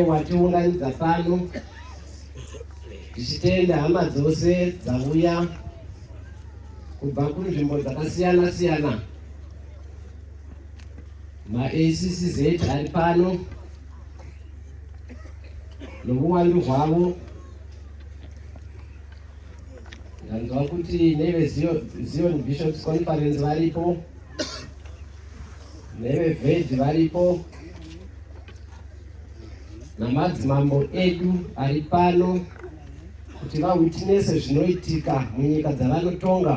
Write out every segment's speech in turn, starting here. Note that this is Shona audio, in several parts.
watiunganidza pano tichitenda hama dzose dzauya kubva kunzvimbo dzakasiyana siyana maACCZ ari pano nohuwandu hwavo ndanzwa kuti nevezion bishops conference varipo nevevedhi varipo namadzimambo edu ari pano kuti vawitnese zvinoitika munyika dzavanotonga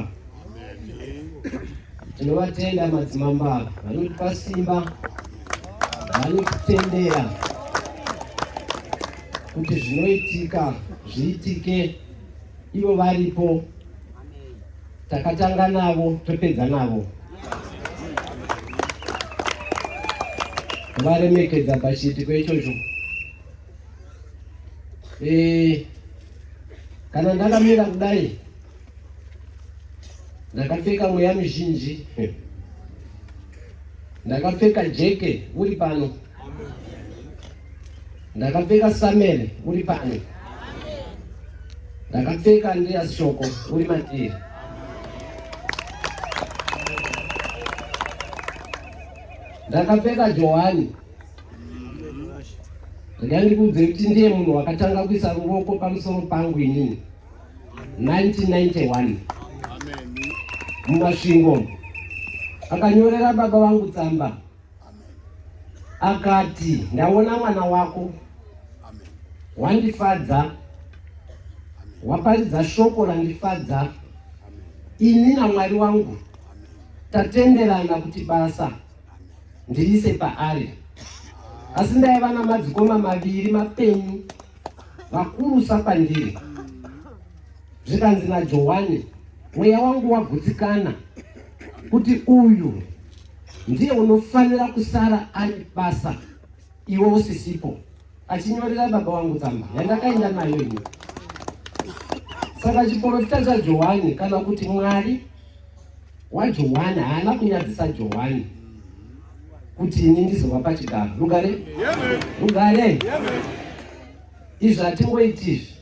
tinovatenda madzimambo ava vanotipa simba vanotitendera kuti zvinoitika zviitike ivo varipo Takatanga navo topedza navo. Varemekedza pachiitiko ichocho. Eh, kana ndakamira kudai ndakapfeka mweya mizhinji ndakapfeka jeke uri pano Ndakapfeka Samuel uri pane. Ndakapfeka Andreas Shoko uri matiri. Ndakapfeka Johani ndandikuudze kuti ndiye munhu wakatanga kuisa ruoko pamusoro pangu inini 1991 mumasvingo akanyorera baba vangu tsamba akati ndaona mwana wako wandifadza waparidza shoko randifadza ini namwari wangu tatenderana kuti basa ndirise paari asi ndaiva namadzikoma maviri mapenyu vakurusa pandiri zvikanzi najohani mweya wangu wagutsikana kuti uyu ndiye unofanira kusara ari basa iwe usisipo achinyorera baba wangu tsamba yandakaenda nayo ini saka chiporofita chajohani kana kuti mwari wajohani haana kunyadzisa johani kuti ini ndizova pachigaro rugare rugare izvi hatingoiti izvi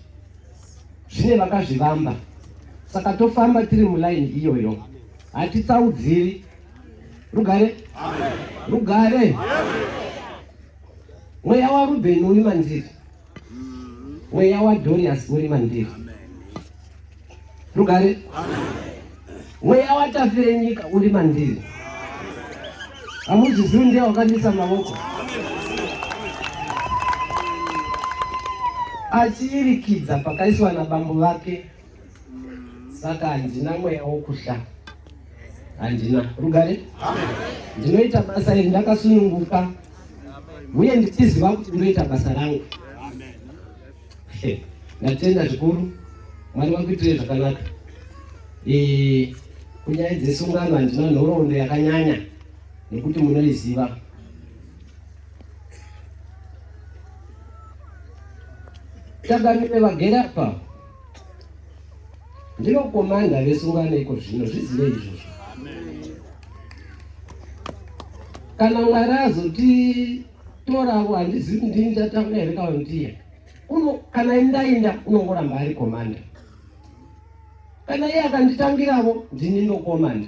zvine vakazvivamba saka tofamba tiri mulaini iyoyo hatitsaudziri rugare rugare mweya warubheni uri mandiri mweya wadhorias uri mandiri rugare mweya watafire nyika uri mandiri hamuzvizivi ndiye wakandisa mavoko achirikidza pakaiswa nabambo vake saka handina mweya wokuhla handina rugare ndinoita basa iri ndakasununguka uye ndichiziva kuti ndinoita basa rangu ndatenda zvikuru mwari vakuitire zvakanaka kunyaya dzesungano handina nhoroondo yakanyanya nekuti munoiziva takamire vagere apa Ndinokomanda vesungano iko zvino zvizive izvozvo. Kana Mwari azotitoravo handizivi kuti ndini ndatanga here kana ndiye. Kana ndainda unongoramba ari komanda. Kana iye akanditangiravo ndini ndokomanda.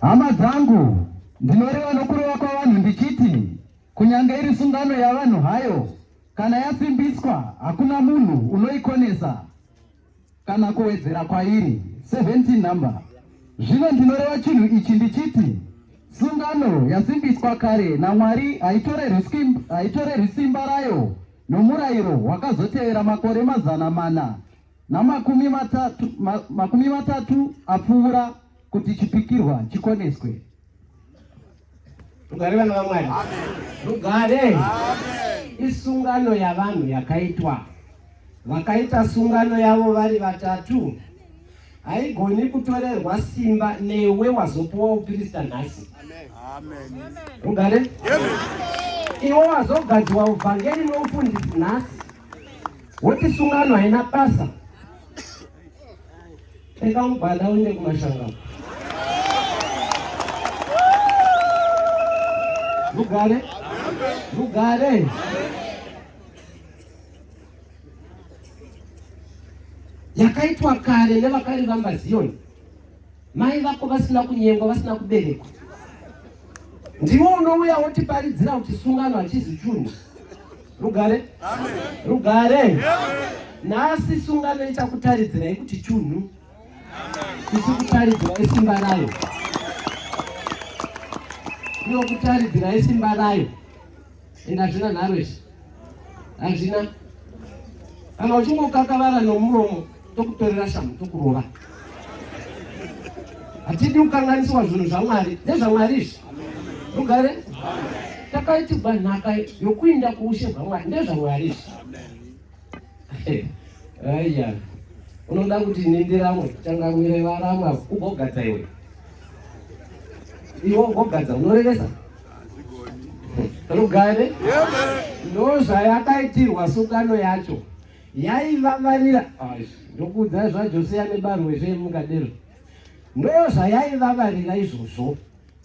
Hama dzangu, ndinoreva nokureva kwavanhu ndichiti kunyange iri sungano yavanhu hayo, kana yasimbiswa hakuna munhu unoikonesa kana kuwedzera kwairi 17 number. Zvino ndinoreva chinhu ichi ndichiti sungano yasimbiswa kare naMwari haitorerwi simba rayo nomurayiro wakazotevera makore mazana mana namakumi matatu, ma, makumi matatu apfuura kuti chipikirwa chikoneswe. Rugare vana vaMwari, rugare isungano yavanhu yakaitwa vakaita sungano yavo vari vatatu haigoni kutorerwa simba newe wazopuwa upirista nhasi rugare iwe wazogadzwa uvhangeri noufundisi nhasi woti sungano haina basa pfeka mubhanda uende kumashangano mugare mugare yakaitwa kare nevakarivamba ziyoni Mai vako vasina kunyengwa, vasina kuberekwa. Ndiwo unouya wotiparidzira kuti sungano hachizi chunhu. Rugare? Amen. Rugare? Amen. Nhasi sungano ichakutaridzirai kuti chunhu. Ichikutaridzirai simba rayo. Inokutaridzirai simba rayo. ende hazvina nharo izvi hazvina kana uchingokakavara nomuromo tokutorera shamu tokurova hatidi kukanganiswa zvinhu zvamwari nezvamwari izvi rugare takaitigwa nhaka yokuinda kuushe bwamwari ndezvamwari izvi aiya unoda kuti nindiramwe changamire varamwa ugogadza iwe iwe ugogadza unorevesa rugare ndozvayakaitirwa sungano yacho yaivavarira ndokuudza zvajosiya nebarwezve mukadero ndozvayaivavarira izvozvo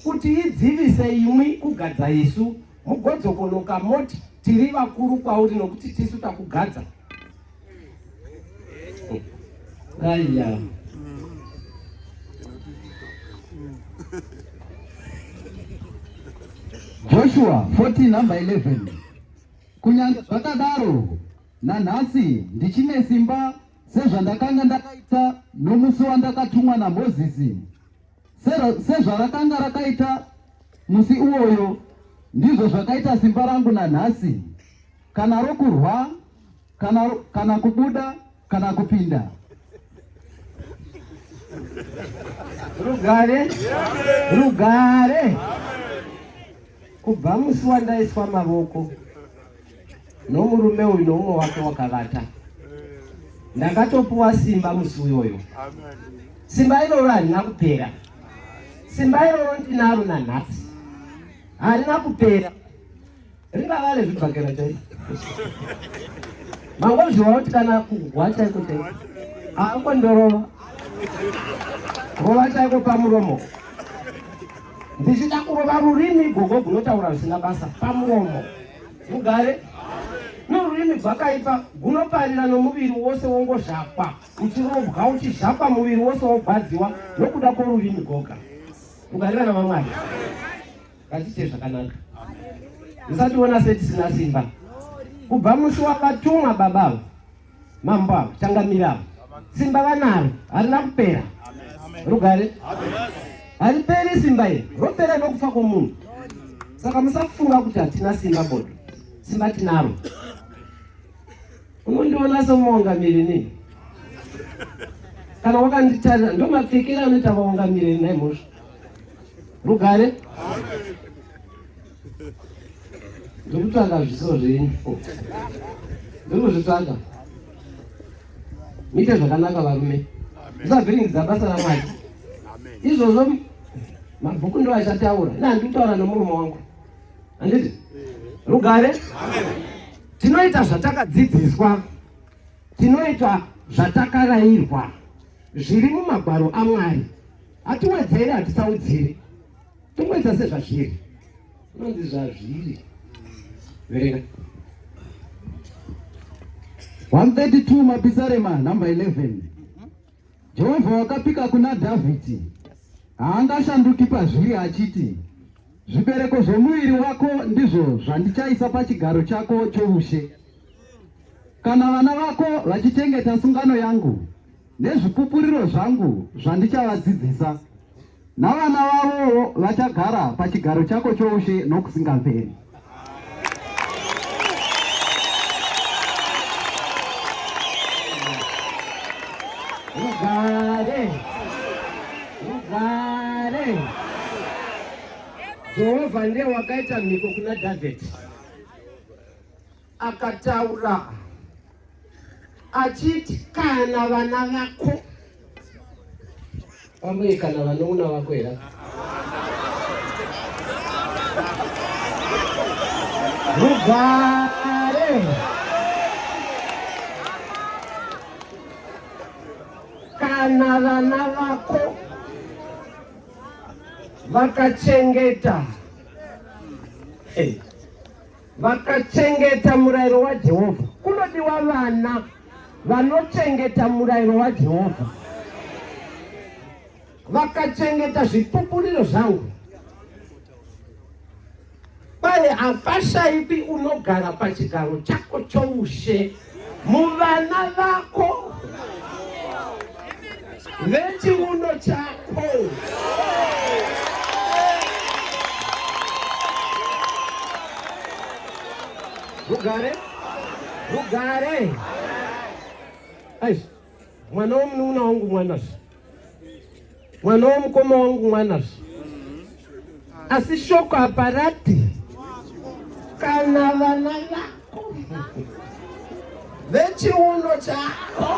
Kuti idzivise imwi kugadza isu, mugodzokonoka moti tiri vakuru kwauri nokuti tisu takugadza. Aya. Joshua 14 number 11 kunyange zvakadaro nanhasi ndichine simba sezvandakanga ndakaita nomusi wandakatumwa namozisi Sezvarakanga rakaita musi iwoyo, ndizvo zvakaita simba rangu nanhasi, kana rokurwa kana, kana kubuda kana kupinda rugare rugare kubva musi wandaiswa mavoko nomurume uyu noumwe wake wakavata ndakatopuwa simba musi uyoyo simba iroro harina kupera simba iroro ndinaro nanhasi harina kupera ringava rezvibhakera chai mangozviwa kuti kana kuhwa chaiko chai aangondorova rova chaiko pamuromo ndichida kurova rurimi gogo gunotaura zvisina basa pamuromo mugare norurimi gwakaipa gunoparira nomuviri wose wongozhakwa uchirovwa uchizhakwa muviri wose wogwadziwa nokuda kworurimi goga mugare vana vamwari ngatiite zvakanaka musationa setisina simba kubva musi wakatumwa babavo mambo ava changamire ava simba vanaro harina kupera rugare hariperi simba iri ropera nokufa kwomunhu saka musafunga kuti hatina simba bodo simba tinaro unondiona somuungamiri nei kana wakanditarira ndo mapfekero anoita vaungamiri nai mhosva rugare ndikutanga zviso zvenyu ndikuzvitsvaga muite zvakanaka varume zvisavhiringidza basa ramwari izvozvo mabhuku ndo achataura ina handikutaura nomurume wangu handiti rugare tinoita zvatakadzidziswa tinoita zvatakarairwa zviri mumagwaro amwari hatiwedzere hatisaudziri Tongoita sezvazviri. Unonzi zvazviri. Verenga. 132 Mapisarema number 11. Jehovha wakapika kuna Dhavhidhi. Haangashanduki pazviri achiti zvibereko zvomuviri wako ndizvo zvandichaisa pachigaro chako choushe kana vana vako vachichengeta sungano yangu nezvipupuriro zvangu zvandichavadzidzisa navana vavowo vachagara pachigaro chako choushe nokusingaperi. Rugare, rugare. Jehovha ndiye wakaita mhiko kuna Dhavhidhi. Akataura achiti kana vana vako pamwe kana vanoona vako here rugare kana vana vako vakachengeta hey. Vakachengeta murayiro waJehovha. Kunodiwa vana vanochengeta murayiro waJehovha. Vakachengeta zvipupuriro zvangu. Pane hapashaipi unogara pachigaro chako choushe. muvana vako vechiuno chako rugare rugare mwana womunun'una wangu mwana mwana womukoma wangu mwana zve asi shoko haparati kana vana vako vechiuno chako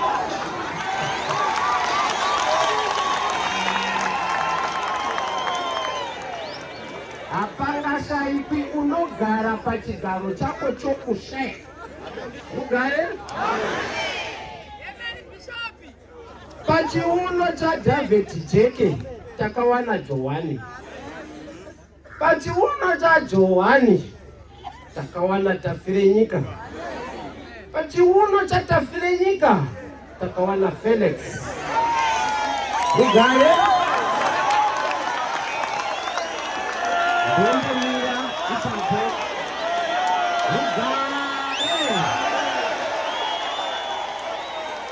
hapangashaikwi unogara pachigaro chako chokushaya ugare Pachiuno chaDhavhidhi jeke takawana Johani. Pachiuno chaJohani takawana Tafirenyika. Pachiuno chaTafirenyika takawana Felix Rugare. Rugare.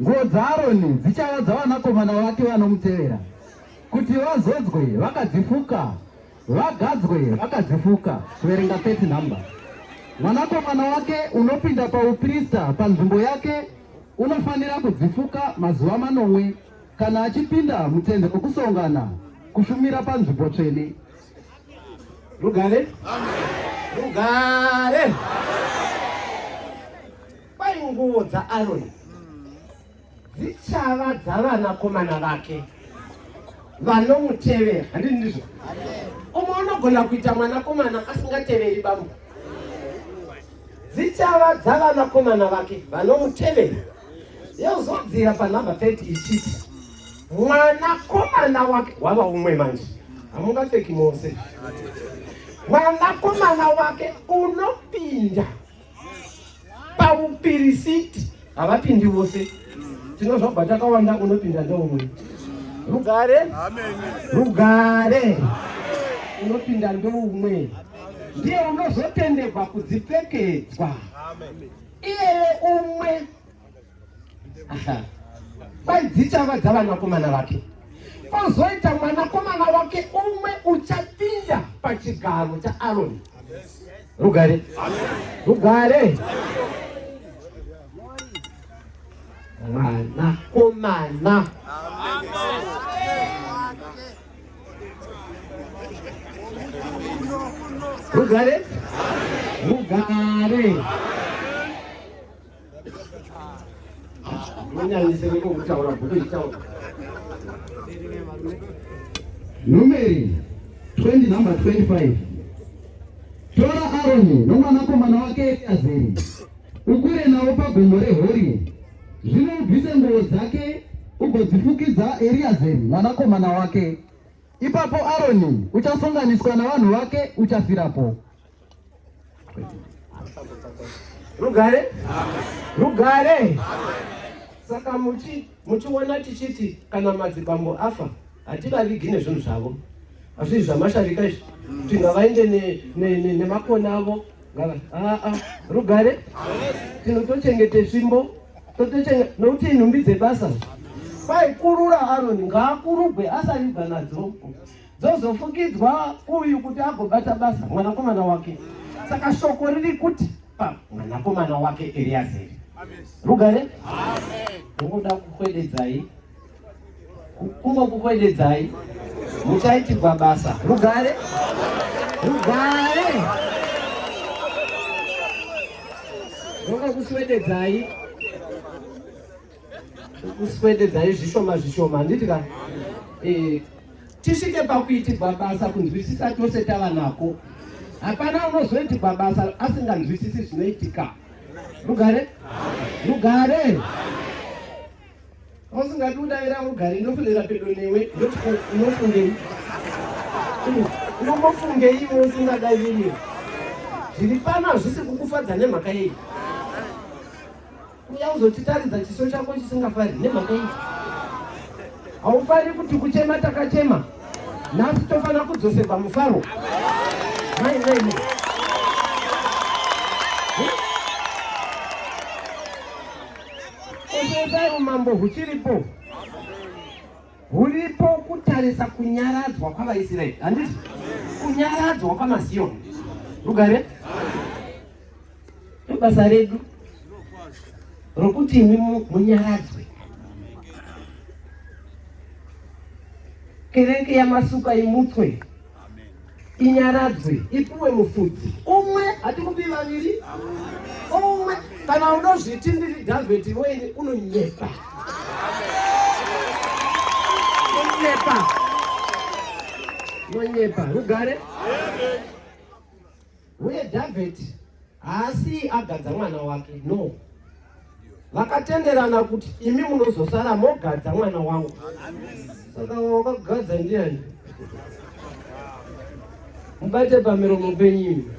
Nguo dzaAroni dzichava dzavanakomana vake vanomutevera, kuti vazodzwe vakadzifuka, vagadzwe vakadzifuka. Kuverenga 30 nhamba. Mwanakomana wake unopinda pauprista panzvimbo yake unofanira kudzifuka mazuva manomwe kana achipinda mutende okusongana kushumira panzvimbo tsvene. Rugare. Amen. Rugare. Amen. Kwai nguvo dzaAroni dzichava dzavanakomana vake vanomutevera handii ndizvo umwe unogona kuita mwanakomana asingateveri bambo dzichava dzavanakomana vake vanomutevera yozodzira panhamba 30 ichiti mwanakomana wake wava umwe manje hamungapfeki mose mwanakomana wake unopinda pamupirisiti havapindi vose tinozvabva takawanda unopinda ndoumwe rugare rugare unopinda ndoumwe ndiye unozotenderwa kudzipfekedzwa iyeye umwe Kwai dzichava dzavanakomana vake. Kozoita mwanakomana wake umwe uchapinda pachigaro chaAroni. Rugare. Rugare. Mwanakomana. Rugare. Rugare. Numeri 20 number 25 tora Aroni nomwanakomana wake Eriazeri ukure nawo pagomo reHori zvino ubvise nguo dzake ugodzifukidza Eriazeri mwanakomana wake ipapo Aroni uchasonganiswa navanhu vake uchafirapo Rugare? Rugare? Saka muchi muchiona tichiti kana madzibambo afa hativavigi nezvinhu zvavo hazvii zvamasharika izvi kuti ngavaende nemakona ne, ne, ne avo ngava aa ah, ah. rugare tinotochengete svimbo nokuti inhumbi dzebasa kwaikurura aroni ngaakurugwe asaribva nadzo dzozofukidzwa uyu kuti agobata basa mwanakomana wake saka shoko riri kuti pa mwanakomana wake eriazeri rugare ungoda kukwededzai kungokukwededzai muchaitirwa basa rugare rugare rokakuswededzai kuswededzai zvishoma zvishoma handiti ka eh, tisvike pakuitirwa basa kunzwisisa tose tava nako hapana unozoitirwa basa asinganzwisisi zvinoitika rugare rugare usingati udavira rugare ndofunira pedo newe unofungei unombofungeiwo usingadaviri zviri pano hazvisi kukufadza nemhaka yei kuuya kuzotitaridza chiso chako chisingafari nemhaka iyi haufari kuti kuchema takachema nhasi tofanira kudzoserwa mufaro mainini kusesai umambo huchiripo huripo kutarisa kunyaradzwa kwavaisraeri handiti kunyaradzwa kwamasiyoni rugare ndobasa redu rokuti imi munyaradzwe kereke yamasuka imutswe inyaradzwe ipuwe mufudzi umwe hatikupi vaviri umwe kana unozviti ndiri dhavheti weini unonyepa unonyepa unonyepa rugare Uye David haasi agadza mwana wake, no. Vakatenderana kuti imi munozosara mogadza mwana wangu. Saka wakagadza ndiani? Mubate pamiromo penyimi.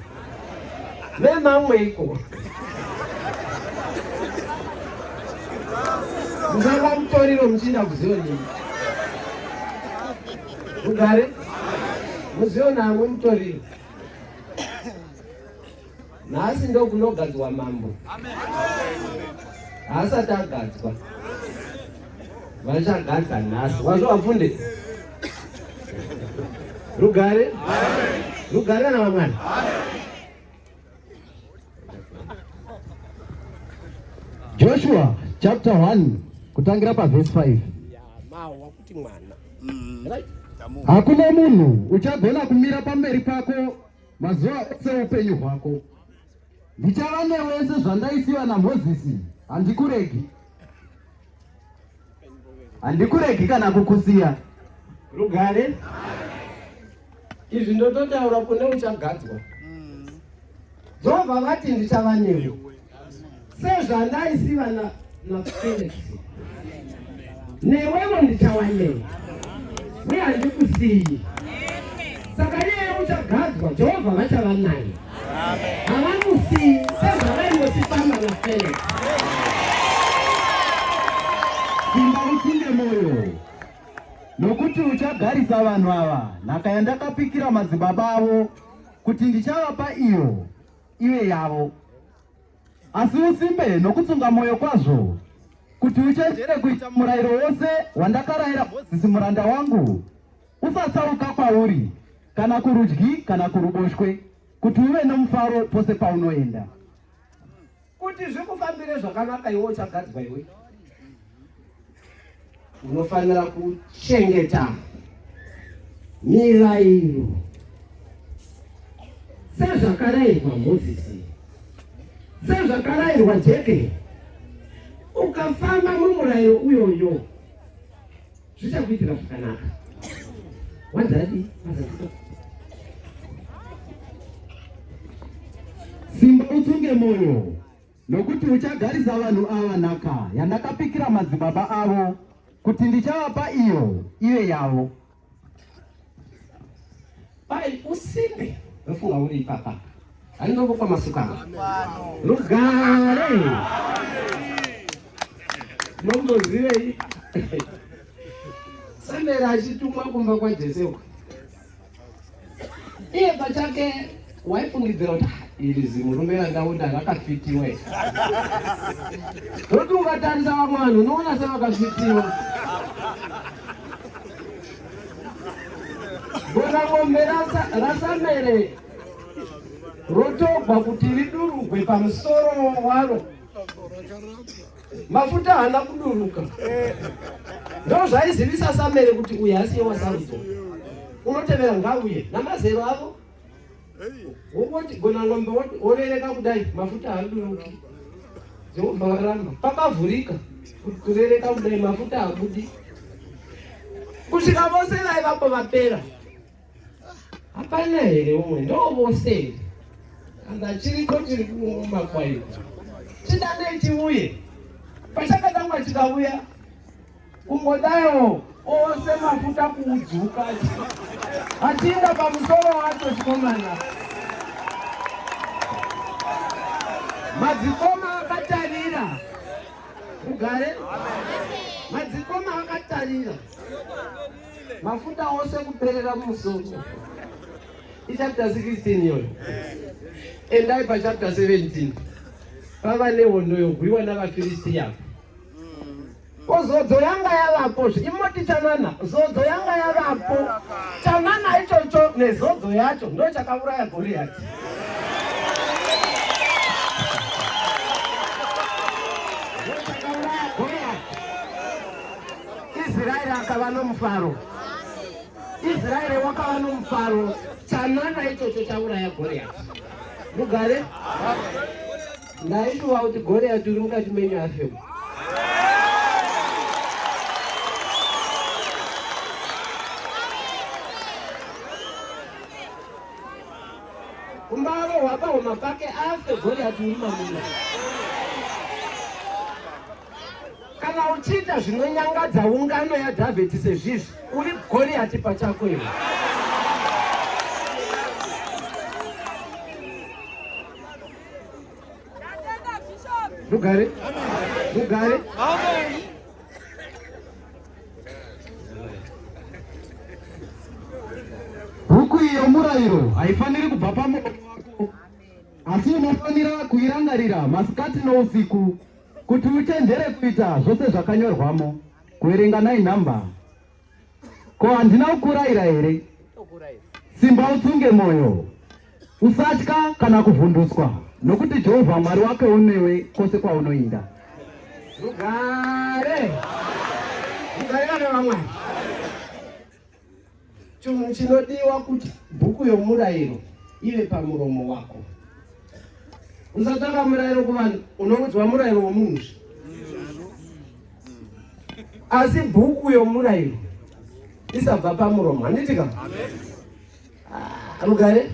Vemamwe iko. Musanga mutoriro muchiinda kuziyo nini? Mugare? Muziyo namwe mutoriro. nhasi ndokunogadzwa mambo haasati agadzwa vachagadza nhasi wazvo wapfunde rugare rugare kana vamwana joshua chapter 1 kutangira pavhesi 5 mwana mm. right hakuna munhu uchagona kumira pamberi pako mazuva ose upenyu hwako ndichava newese zvandaisiwa namozisi handikuregi handikuregi kana kukusiya rugare izvi ndototaura kune uchagadzwa mm. jehovha vati ndichava newe sezvandaiziva na naFelix newewo ndichawanei uye handikusiyi saka iyeyo uchagadzwa jehovha vachava naye havamusiyi sezvavainotifamba naFelix simba utsinde moyo nokuti uchagarisa vanhu ava nhaka yandakapikira madzibaba avo kuti ndichavapa iyo iwe yavo asi usimbe nokutsunga mwoyo kwazvo kuti uchenjere kuita murayiro wose wandakarayira mozisi muranda wangu usatsauka kwauri kana kurudyi kana kuruboshwe kuti uve nomufaro pose paunoenda kuti zvikufambire zvakanaka iwe uchagadzwa iwe Unofanira kuchengeta mirairo sezvakarayirwa Mozisi, sezvakarayirwa Jeke. Ukafamba mumurairo uyoyo zvichakuitira zvakanaka. Wadadi simba utunge moyo Nokuti uchagarisa vanhu ava nhaka yandakapikira madzibaba avo kuti ndichavapa iyo ive yavo. Pai usimbe ndofunga uri ipapa anongopa masuka rugare nombozivei sandera achitumwa kumba kwajesewa iye pachake waifungidzira kuti iri zimurume randaunda rakafitiwa rokuti ukatarisa vamwe vanhu unoona sevakafitiwa gona mombe rasamere rotogwa kuti ridurugwe pamusoro waro mafuta haana kuduruka ndo zvaizivisa samere kuti uye asi ye wasarudzo unotevera ngauye namazero avo wongoti gona ngombe worereka kudai mafuta haaduruki jehovha varamba pakavhurika kurereka kudai mafuta habudi kusvika vose vaivapo vapera Hapana here umwe ndovose here? Kana chiriko chiri kumakwai. Chidanei chiuye. Pachakatanga chikauya kungodayo ose mafuta kuudzuka achinda pamusoro wacho chikomana madzikoma akatarira ugare madzikoma akatarira mafuta ose kuperera mumusoro ichapter 16 iyoyo endai pachapter 17 pava nehondo yorwiwa navafiristiya ko zodzo yanga yavapo imoti chanana zodzo yanga yavapo chanana ichocho nezodzo yacho ndo chakauraya goriyati Israeri akava nomufaro. Israeri wakava nomufaro. Chanana ichocho chauraya Goriati. Mugare? Ndaishuva kuti Goriati uri mukati menyu afema. Umbavo hwapahuma pake afe Goriati uri mamuna. kana uchiita zvinonyangadza ungano yadhavheti sezvizvi uri goriyati pachako iwe rugare rugare huku iyo murayiro haifaniri kubva pamoyo wako asi unofanira kuirangarira masikati nousiku Kuti uchenjere kuita zvose zvakanyorwamo, kuverenga nai nhamba. Ko handina kukuraira here? Simba utsunge mwoyo, usatya kana kuvhunduswa, nokuti Jehovha Mwari wake unewe kwose kwaunoinda. Rugare! Rugare vana vamwari! Chinhu chinodiwa kuti bhuku yomurayiro ive pamuromo wako. Usatsvaka murayiro kuvanhu, unoudzwa murayiro womunhu. Asi bhuku yomurayiro isabva pamuromo, handiti ka? Ah, rugare?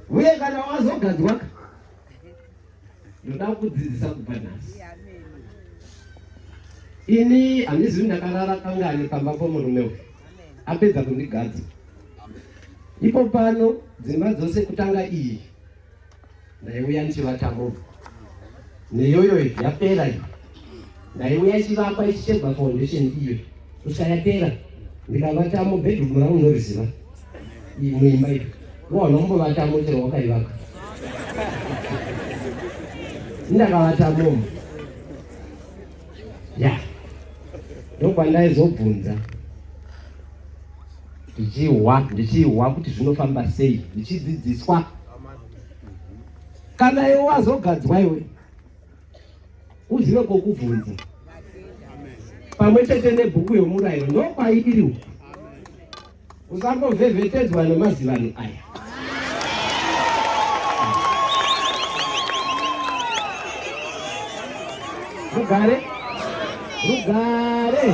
Uye kana wazogadzwa Ndoda kukudzidzisa kubva nhasi. Ini handizivi ndakarara kangani pamba pomurume uyu apedza kundigadza. Ipo pano dzimba dzose kutanga iyi ndaiuya ndichivatambova neyoyo yapera iyi ndaiuya chivakwa ichi chebva foundation iyo kusayapera ndikavatamo bedroom rangu ndoriziva muimba iyo waona kumbovatamo chero wakaivaka ndakavatamomo ya ndokwandaizobvunza ndichihwa ndichihwa kuti zvinofamba sei ndichidzidziswa kana iwe wazogadzwa iwe uzive kokubvunza pamwe chete nebhuku yomurayiro ndokwaidiri uku usangovhevhetedzwa nemazivano aya rugare rugare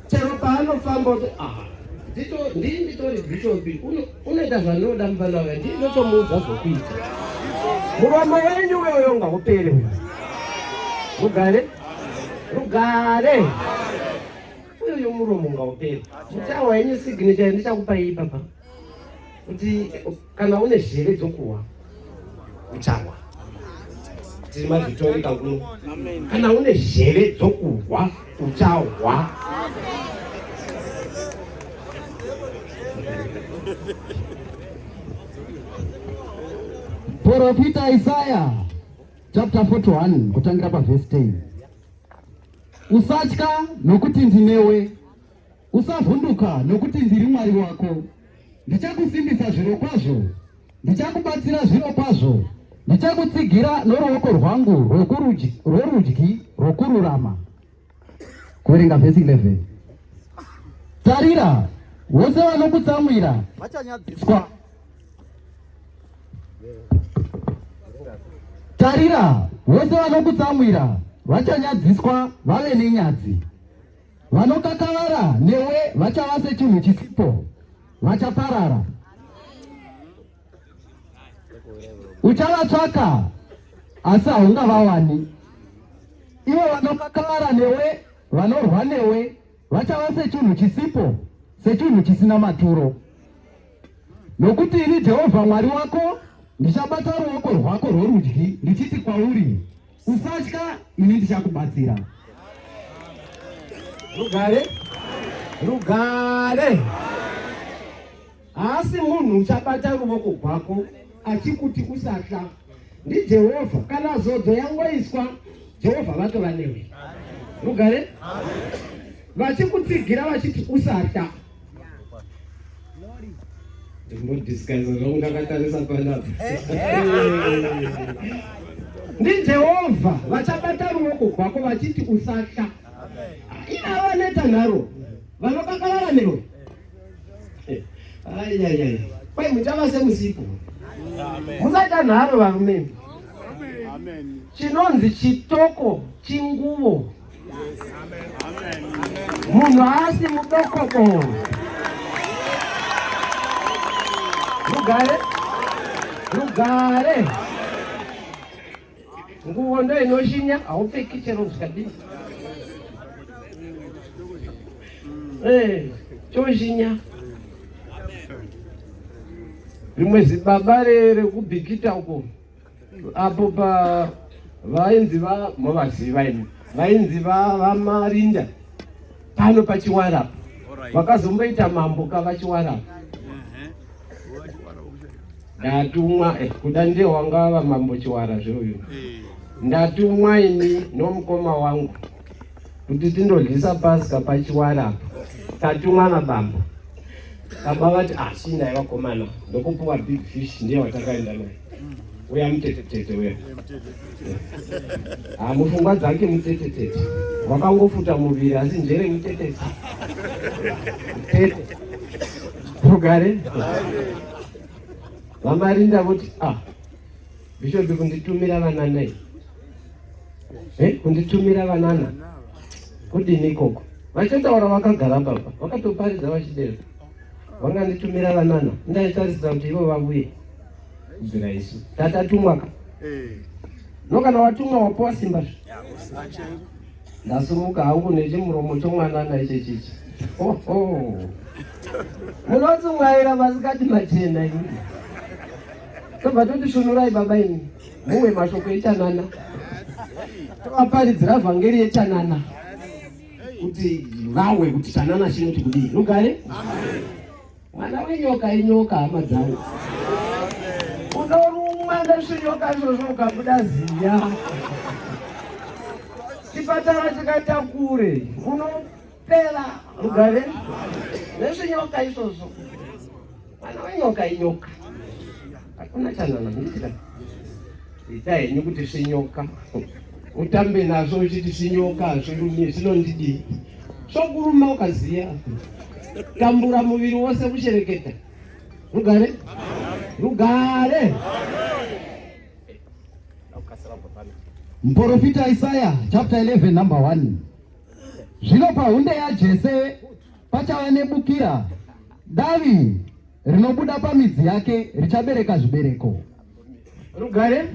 chero paanofamba kuti aha ndii nditori bishop unoita zvandinoda mufana wake ndii ndotomuudza zvokuita muromo wenyu uyoyo ngaupere uyo rugare rugare uyoyo muromo ngaupere muchawa yenyu signature ndichakupai ipapa kuti kana une zheve dzokuwa uchawa tiri mavhitori kakuno kana une zheve dzokuhwa uchahwa Profita Isaya chapter 41 kutangira pavhesi 10 usatya nokuti ndinewe Usavhunduka, nokuti ndiri Mwari wako. Ndichakusimbisa zviro kwazvo, ndichakubatsira zviro kwazvo, ndichakutsigira noruoko rwangu rworudyi rwokururama. Kuverenga vhesi 11. Tarira, vose vanokutsamwira vachanyadziswa. Tarira, vose vanokutsamwira vachanyadziswa vave nenyadzi. Vanokakavara newe vachava sechinhu chisipo, vachaparara. Uchavatsvaka asi haungavawani. Ivo vanokakavara newe, vanorwa newe, vachava sechinhu chisipo, sechinhu chisina maturo. Nokuti ini Jehovha Mwari wako ndichabata ruoko rwako rworudyi ndichiti kwauri Usatya, ini ndichakubatsira. Rugare, rugare. Haasi munhu uchabata ruvoko rwako achikuti usatya. NdiJehovha, kana zodzo yangoiswa, Jehovha vatova newe. Rugare, vachikutsigira vachiti usatya. Ndimbodiscussa zvangu ndakatarisa pandapa. NdiJehovha vachabata ruoko rwako vachiti usatya. Ina vaneta nharo vanokakavara newe. Ayayaya. Kwai muchava semusipo. Musaita nharo varume. Chinonzi chitoko chinguvo. munhu haasi mudokoko rugare rugare nguvo ndo inoshinya haupfeki chero zvikadii eh, chozhinya rimwe zibaba rekubhikita uko apo pa vainzi va movaziva imi vainzi va vamarinda pano pachiwara vakazomboita mambo kavachiwara ndatumwa eh, kuda ndiye wanga vamambo chiwara zveuyu eh. ndatumwa ini nomukoma wangu kuti tindodyisa paska pachiwara apa tatumwa nabambo baba vati asi ah, ndai vakomana ndokupuwa big fish ndiye watakaenda naye uya mutetetete uya ha ah, mufungwa dzake mutetetete wakangofuta muviri asi njere mutetete tete rugare vamarinda voti ah Bishop kunditumira vana nei? Eh, kunditumira vanana. Kudini ikoko? Vachataura vakagara baba, vakatoparidza vachidero. Vanganditumira vanana, ndaitarisira kuti ivo vavuye. Kubvira isu. Tatatumwa ka. Eh. No kana watumwa wapowa simba zve. Ndasumuka hangu nechimuromo chomwana naiche chichi. Oh oh. Munotsungaira masikati machena ini. tobva toti svunurai baba ini mumwe mashoko echanana tovaparidzira vhangeri yechanana kuti vawe kuti chanana chinoti kudii rugare mwana wenyoka inyoka hama dzangu unorumwa nezvinyoka izvozvo ukabuda ziya chipatara chikaita kure uno pera mugare nezvinyoka izvozvo mwana wenyoka inyoka hakuna chanana muitira ita henyu kuti svinyoka utambe nazvo uchiti svinyoka hazvirumi zvinondidii zvokuruma ukaziya tambura muviri wose kuchereketa rugare rugare mporofita isaya chapter 11 number 1 Zvino pahunde yaJese pachava nebukira, davi rinobuda pamidzi yake richabereka zvibereko. Rugare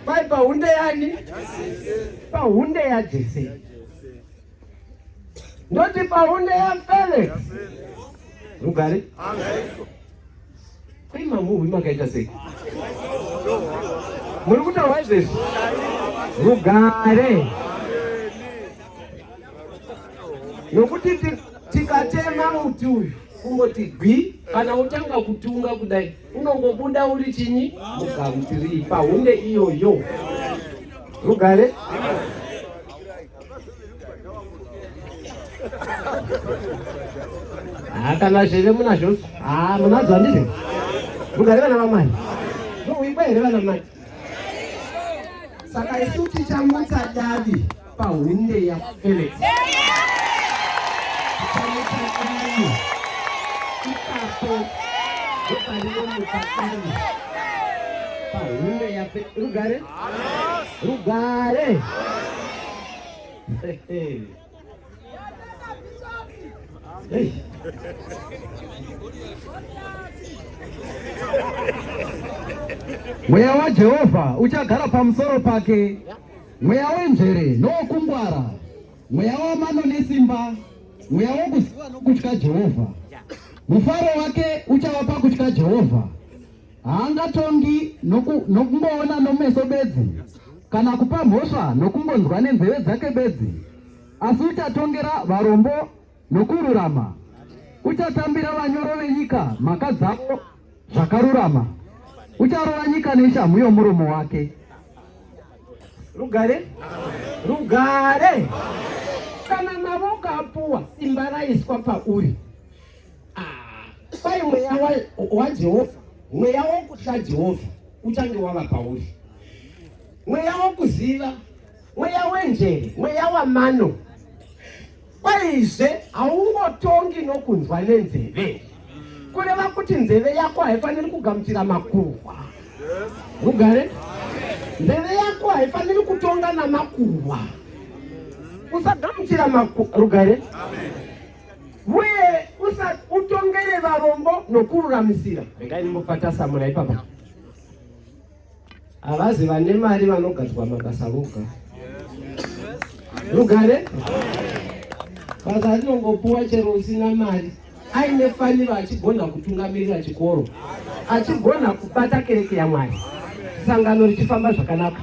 pai pahunde yani? Pahunde yaJese. Ndoti pahunde yaFelix. Rugare. Kwai mamuvi makaita sei? Muri kutaura izvezvi? Rugare. Nokuti tikatema muti uyu kungoti gwi kana utanga kutunga kudai unongobuda uri chinyi mugamutirii pahunde iyoyo rugare Ah, kana zveve munazvo ah, munadzo handizvo mugare vana vamai muikwa here vana mai saka isu tichamutsa davi pahunde yafelix ipapo ndoparinomutsa davi pahunde yafelix rugare rugare mweya wajehovha uchagara pamusoro pake mweya wenjere nowokungwara mweya wamano nesimba mweya wokuziva nokutya jehovha mufaro wake uchava pakutya jehovha Haangatongi nokungoona nomeso bedzi, kana kupa mhosva nokungonzwa nenzeve dzake bedzi, asi uchatongera varombo nokururama, uchatambira vanyoro venyika mhaka dzavo zvakarurama, ucharova nyika neshamhu yomuromo wake. Rugare, rugare. Kana mavoko apuwa, simba raiswa pauri. Ah, kwai mweya waJehovha, mweya wokutya Jehovha uchange wava pauri, mweya wokuziva, mweya wenjere, mweya wamano. Kwaizve haungotongi nokunzwa nenzeve, kureva kuti nzeve yako haifaniri kugamuchira makuhwa. Mugare, nzeve yako haifaniri kutonga namakuhwa. Usagamuchira makuhwa. Rugare. Amen. uye utongere varombo nokururamisira. Regai ndimbopatasamura ipapa. Havazi vane mari vanogadzwa mabasa voga. Rugare basa rinongopuwa chero usina mari aine faniro achigona kutungamirira chikoro achigona kubata kereke yamwari sangano richifamba zvakanaka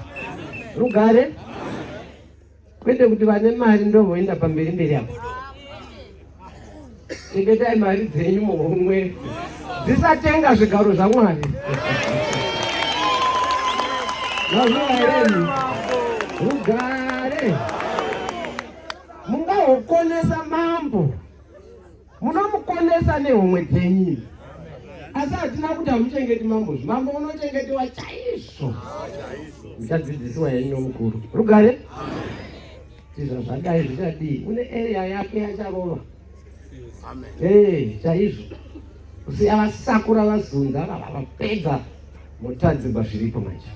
rugare Kwete kuti vane mari ndovoenda pamberi mberi apo. Chengetai mari dzenyu muhomwe dzisatenga zvigaro zvaMwari. Vazovaereni rugare mungahokonesa mambo munomukonesa nehomwe dzenyu asi hatina kuti hamuchengeti mambo zvi mambo unochengetiwa chaizvo muchadzidzisiwa yenyu nomukuru rugare tizva zvadai zvichadii une area yake yacharova e chaizvo kusiya vasakura vazunza vava vapedza motadzirwa zviripo manje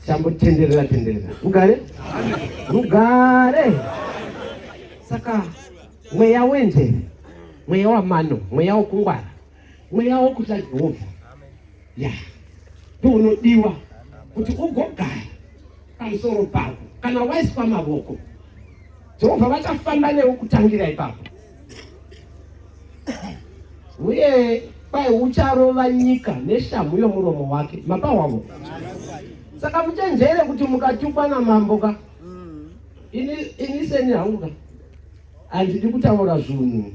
chambotenderera tenderera rugare rugare saka mweya wenzeve mweya wamano mweya wokungwara mweya wokutya jehovha ya ndiunodiwa kuti ugogara pamusoro pako kana waiswa mavoko jehovha vachafamba newe kutangira ipapo uye kwai ucharova nyika neshamhu yomuromo wake mapa wavo saka muchenjere kuti mukatukwa namambo ka ini seni hangu ka Andidi kutaura zvunhu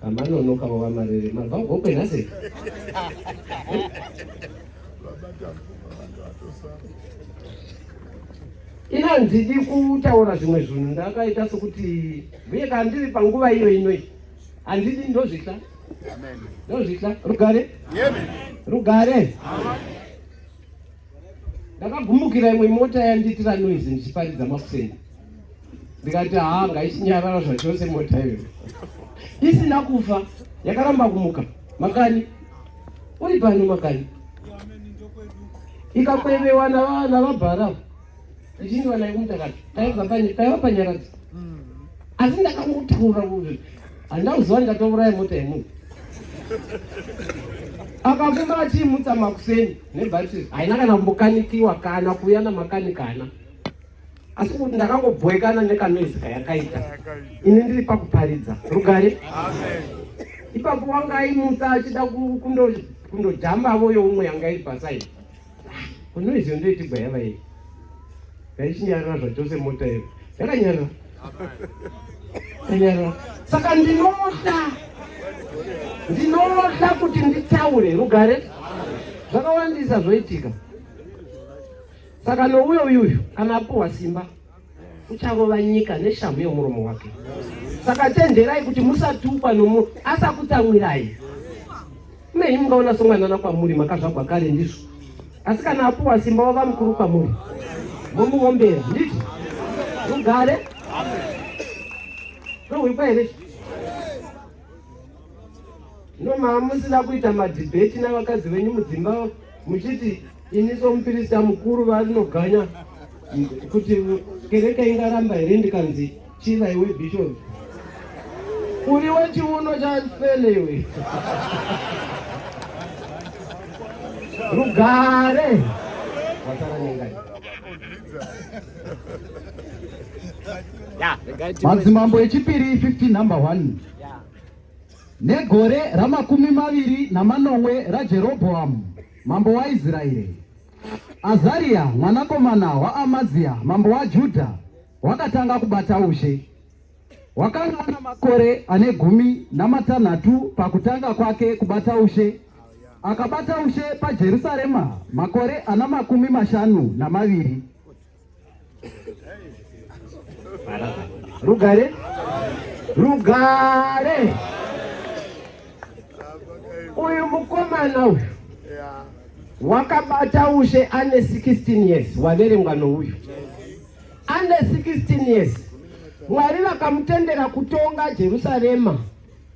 kamanono kavo vamarere mabva gokwe nhase ina handidi kutaura zvimwe zvinhu ndakaita sokuti uye ka ndiri panguva iyo inoi handidi ndozvitla ndozvitla rugare rugare ndakagumukira imwe mota yandiitira noise ndichiparidza makuseni ndikati haa ngaichinyarara zvachose mota iyo isina kufa yakaramba kumuka makani uri pano makani ikakwevewa navabhara ndini vana vekumutakato paiva panyaradzi mm. asi ndakangotaura kuti handina kuziva ndikatouraya mota yemunhu akafumba achiimutsa makuseni nebhatiri haina kana kumbokanikiwa kana kuuya namakanikana asi kuti ndakangobhoekana nekanoizi kayakaita ini ndiri pakuparidza rugare ipapo wanga aimutsa achida kundojambavo youmwe yanga iri pasaidi Unoizio ndoitigwa yava iyi. Ngaichinyarira zvachose mota iyo. Yakanyarira. Yakanyarira. Saka ndinoda. Ndinoda kuti nditaure rugare. Zvakawandisa zvoitika. Saka nouyo uyuyu kana apuwa simba. ucharova nyika neshamhu yemuromo wake saka chenjerai kuti musatukwa nomunhu asakutsamwirai nei mungaona somwanana kwamuri makazvagwa kare ndizvo asi kana apuwa simba wava mukuru kwamuri momuombera nditi rugare rohwikwa here No mama musina kuita madebate navakadzi venyu mudzimba muchiti ini somupirista mukuru vanoganya kuti kereke ingaramba here ndikanzi chiva iwe bishop uri wechiuno chafele iwe rugare wasara nengai madzimambo echipiri 15 number 1 negore ramakumi maviri namanomwe rajerobhoamu mambo waisraeri azariya mwanakomana waamaziya mambo wajudha wakatanga kubata ushe wakanga ana makore ane gumi namatanhatu pakutanga kwake kubata ushe akabata ushe pajerusarema makore ana makumi mashanu namaviri Rugare, rugare. Uyu mukomana uyu wakabata ushe ane 16 years waverengwa nouyu ane 16 years mwari vakamutendera kutonga jerusarema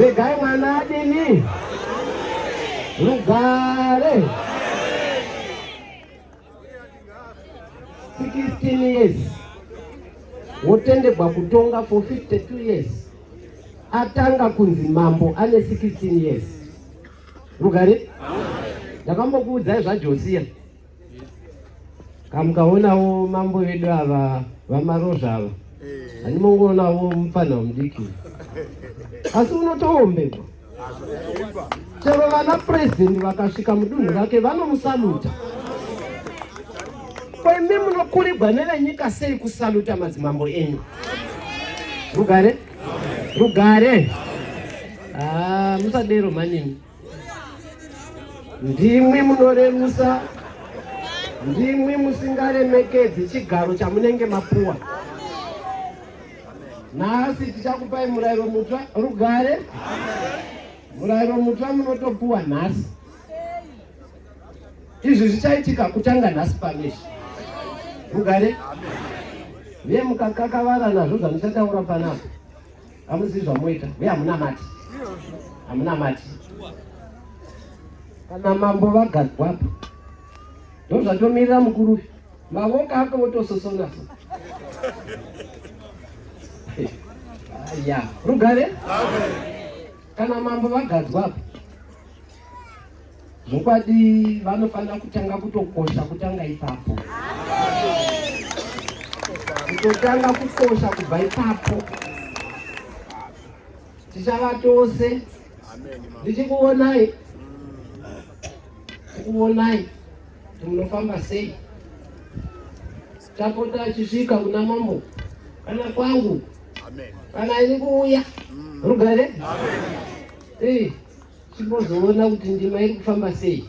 regai mwana adini rugare 16 years wotendegwa kutonga for 52 years atanga kunzi mambo ane 16 years rugare ndakambokuudzai zvajosiya kamukaonawo mambo vedu ava vamarozva ava eh. hanimongoonawo mupfanha wemudiki asi unotoombekwa chero vana purezidendi vakasvika mudunhu rake vanomusaluta ko imi munokurigwa nevenyika sei kusaluta madzimambo enyu rugare rugare ah, musadero manyini Ndimwi munorerusa, ndimwi musingaremekedzi chigaro chamunenge mapuwa. Nhasi tichakupai murayiro mutsva rugare. Murayiro mutsva munotopuwa nhasi. Izvi zvichaitika kutanga nhasi pameshi. Rugare. Amen. Ye mukakakavara nazvo zvamuchataura panapa Hamuzivi zvamoita uye hamunamati, hamunamati. Kana mambo vagadzwa apa ndozvatomirira mukuru uyu, mavoko ake votososonaso ya rugare kana mambo vagadzwa apa Zvokwadi vanofanira kutanga kutokosha kutanga ipapo. Kutotanga kukosha kubva ipapo. Tichava tose ndichikuonai tikuonai kuti munofamba sei tapota achisvika kuna mambo kana kwangu kana ini kuuya mm. rugare Timbozoona kuti ndima iri kufamba sei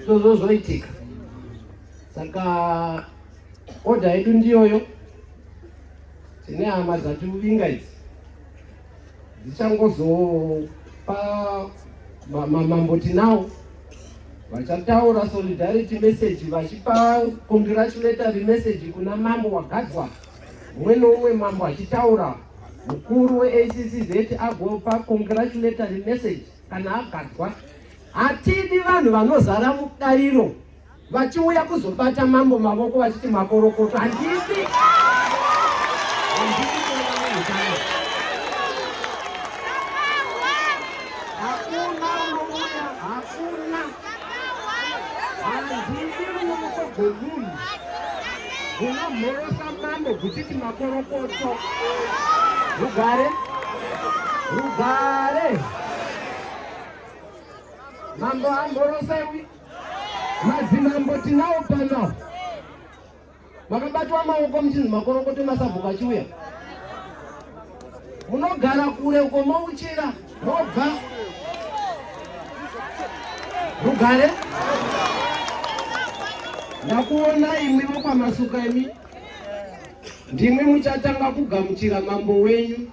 zvozozoitika saka odha yedu ndiyoyo tine hama dzati uvinga idzi dzichangozopa mamambo tinawo vachataura solidarity message vachipa congratulatory message kuna mambo wagadzwa umwe noumwe mambo achitaura mukuru weaccz agopa congratulatory message kana agadzwa hatidi vanhu vanozara mudariro vachiuya kuzobata mambo mavoko vachiti makorokoto handidi hakuna hakuna gomunu unomhorosa mambo kuchiti makorokoto rugare rugare mambo amhorosewi madzimambo tinawo pano makabatwa maoko muchinzi makorokoto emasabhuku achiuya munogara kure uko mouchira mobva rugare ndakuona imwi vokwamasukemi ndimwi muchatanga kugamuchira mambo wenyu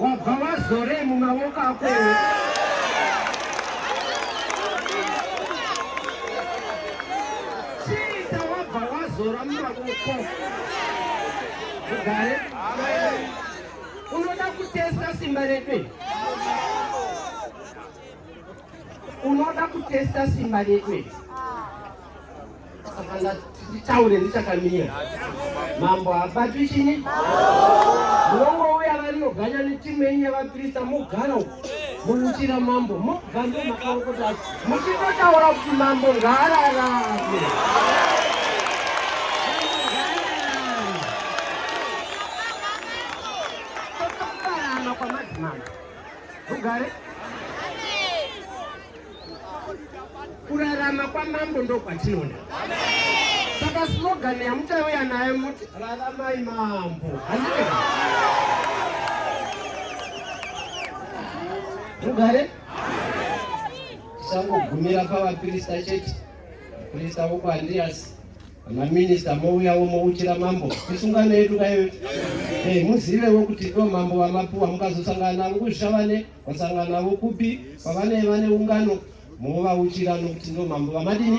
wabva wazorei mumaoko ako chiita wabva wazora mumaoko ugare unoda kutesta simba redu unoda kutesta simba redu Saka nditaure ndichakamira. Mambo habatwi chini? Munongouya vanoganya netimu yenyu yavaprista mogara uko. Munochira mambo mobva ndomakaokota muchingotaura kuti mambo ngaararame. Totoparama kwamadzimambo. Rugare? Kurarama kwamambo ndokwatinoda. Saka slogan yamuchauya nayo muti raramai mambo. Mugare? Tisangogumira pavaprista chete. Prista voko Andreas maminista mouyawo mouchira mambo isungano yedu kayo eh, muzivewo kuti ndo mambo vamapuwa mukazosangana navo kuzvishavane Vasangana navo kupi? Pavanei vane ungano movauchira nokuti ndo mambo vamadini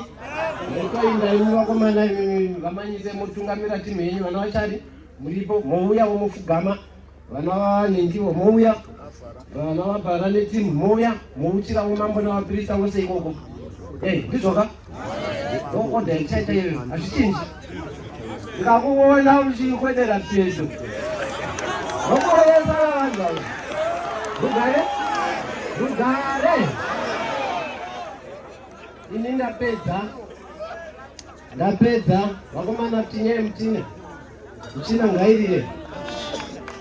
motoinda imi vakomana imi vamanyise motungamira timu yenyu vana vachari muripo mouya womofugama vana vanendivo mouya vana vabhara netimu mouya mouchira womambo navaprista vose ikoko ei ndizvoka Order ichaita iyoyo, hazvichinji. Ndikakuona uchikwedera pedo. Vokoresa vanhu ava. Rugare, rugare. Ini ndapedza, ndapedza. Vakomana tinyai mutina, muchina ngairire.